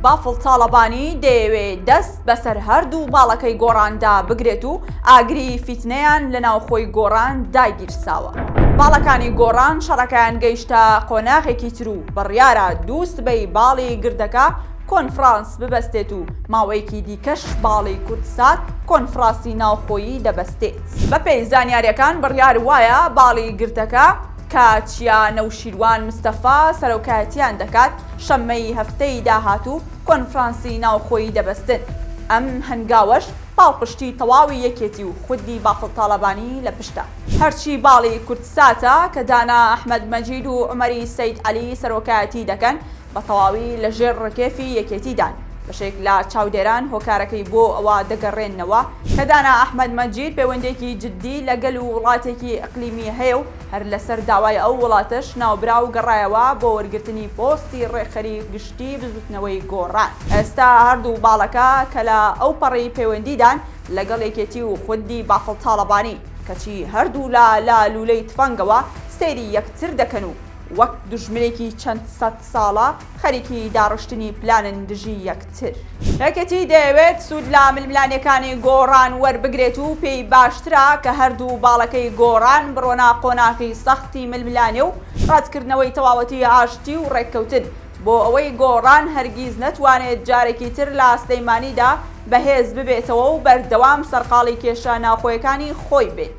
بافڵ تاڵەبانی دەیەوێ دەست بەسەر هەردوو باڵەکەی گۆڕاندا بگرێت و ئاگری فیتنەیان لە ناوخۆی گۆڕان داگیرساوە. باڵەکانی گۆڕان شەڕەکەیان گەیشتە قۆناغێکی تر و بڕیارە دوو سبەی باڵی گردەکە کۆنفڕانس ببەستێت و ماوەیەکی دیکەش باڵی کوردسات کۆنفڕاسی ناوخۆیی دەبەستێت. بەپێی زانیارییەکان بڕیار وایە باڵی گردەکە کە چیا نەوشیروان مستەفا سەرۆکایەتییان دەکات، شەممەی هەفتەی داهاتوو کۆنفرانسی ناوخۆیی دەبەستن، ئەم هەنگاوەش پاڵپشتی تەواوی یەکێتی و خودی بافڵ تاڵەبانی لە پشتە. هەرچی باڵی کوردساتە کە دانا ئەحمەد مەجید و عومەری سەید عەلی سەرۆکایەتی دەکەن، بە تەواوی لە ژێر ڕکێفی یەکێتیدان. بەشێک لە چاودێران هۆکارەکەی بۆ ئەوە دەگەڕێننەوە کە دانا ئەحمەد مەجید پێوەندێکی جدی لە گەل و وڵاتێکی ئیقلیمی هەیە و، هەر لەسەر داوای ئەو وڵاتەش ناوبراو گەڕایەوە بۆ وەرگرتنی پۆستی ڕێکخەری گشتی بزوتنەوەی گۆڕان. ئێستا هەردوو باڵەکە کە لە ئەو پەڕی پەیوەندیدان لەگەڵ یەکێتی و خوندی بافڵ تاڵەبانی، کەچی هەردوو لا لە لولەی تفەنگەوە سەیری یەکتر دەکەن و وەک دوژمنێکی چەند سەد، ساڵە خەریکی داڕشتنی پلانن دژی یەکتر. یەکێتی دەیەوێت سوود لە ململانێکانی گۆڕان وەربگرێت و پێی باشترە کە هەردوو باڵەکەی گۆڕان بڕۆنە قۆناغی سەختی ململانێ و ڕەتکردنەوەی تەواوەتی ئاشتی و ڕێککەوتن بۆ ئەوەی گۆڕان هەرگیز نەتوانێت جارێکی تر لە سلەیمانیدا بەهێز ببێتەوە و بەردەوام سەرقاڵی کێشە ناوخۆیەکانی خۆی بێت.